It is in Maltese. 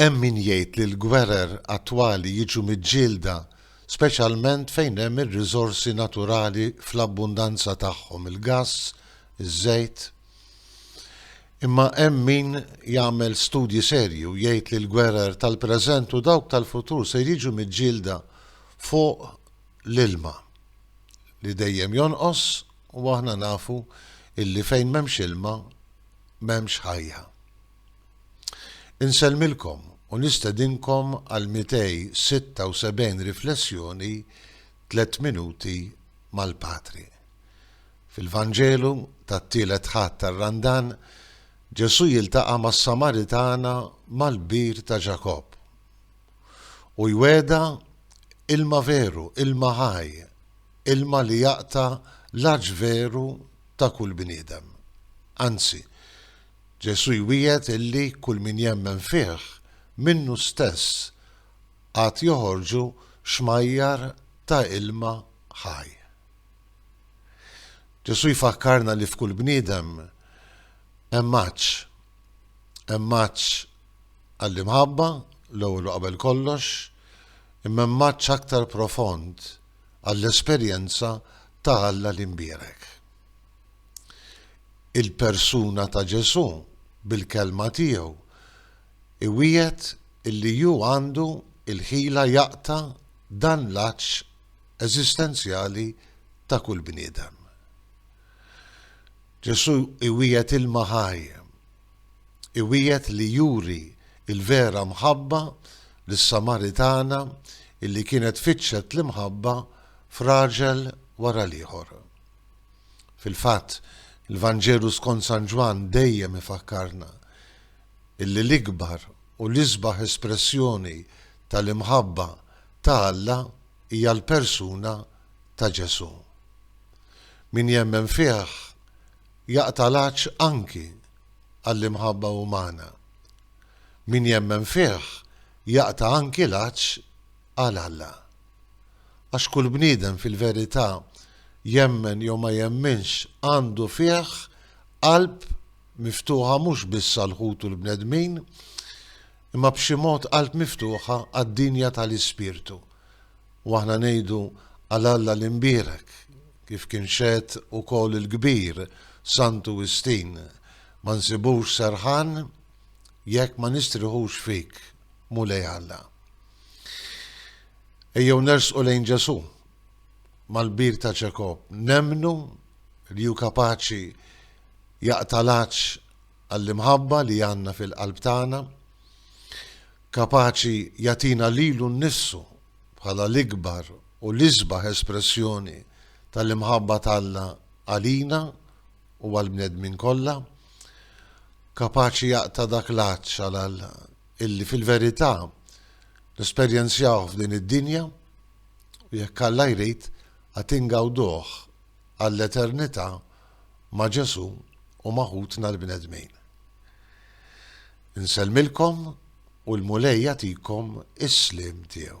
Hemm min jgħid li l-gwerer attwali jiġu miġġielda speċjalment fejn hemm ir-riżorsi naturali fl-abbundanza tagħhom, il-gass, iż-żejt. Imma hemm min jagħmel studji serji u jgħid li l-gwerer tal-preżent u dawk tal-futur ser jiġu miġġielda fuq l-ilma li dejjem jonqos u aħna nafu illi fejn m'hemmx ilma m'hemmx ħajja. Insellmilkom u nistedinkom għal 276 riflessjoni Tliet Minuti mal-Patri. Fil-Vanġelu tat-Tielet Ħadd tar-Randan, Ġesù jiltaqa' mas-Samaritana mal-bir ta' Ġakobb u jwegħedha ilma veru, ilma ħaj, ilma li jaqta' l-għatx veru ta' kull bniedem. Anzi, Ġesù jwiegħed illi kull min jemmen fih, minnu stess għad joħorġu xmajjar ta' ilma ħaj. Ġesù jfakkarna li f'kull bniedem hemm għatx. Hemm għatx għall-imħabba, l-ewwel u qabel kollox, imma hemm għatx aktar profond, għall-esperjenza ta' Alla l-imbierek. Il-persuna ta' Ġesù, bil-kelma tiegħu, iwiegħed li hu għandu l-ħila jaqta' dan l-għatx eżistenzjali ta' kull bniedem. Ġesù iwiegħed ilma ħaj. iwiegħed li juri l-vera mħabba lis-Samaritana li kienet fittxet l-imħabba f'raġel wara l-ieħor. Fil-fatt, il-Vanġelu skont San Ġwann dejjem ifakkarna li l-ikbar u l-isbaħ espressjoni tal-imħabba ta' Alla hija l-persuna ta' Ġesù. Min jemmen fih jaqta' l-għatx anki għall-imħabba umana. Min jemmen fih jaqta' anki l-għatx għal Alla. Għax kull bniedem fil-verità, jemmen jew ma jemminx, għandu fih qalb miftuħa mhux biss għal ħutu l-bnedmin, imma b'xi mod qalb miftuħa għad-dinja tal-ispirtu. U aħna ngħidu għal Alla l-imbierek, Kif kien xehed ukoll il-kbir Santu Wistin, Ma nsibux serħan jekk ma nistrieħux fik, Mulej Alla. Ejjew nersqu lejn Ġesù, mal-kbir ta' Ġakobb, nemmnu li hu kapaċi jaqta' l-għatx għall-imħabba li għandna fil-qalb tagħna. kapaċi jagħtina lilu nnifsu bħala l-ikbar u l-isbaħ espressjoni tal-imħabba t'Alla għalina u għall-bnedmin kollha, kapaċi jaqta' dak l-għatx għal Alla illi fil-verità nesperjenzjawh f'din id-dinja u jekk Alla jrid għad ingawduh għall-eternità ma' Ġesù u ma' ħutna l-bnedmin. Insellmilkom u l-Mulej jagħtikom is-sliem tiegħu.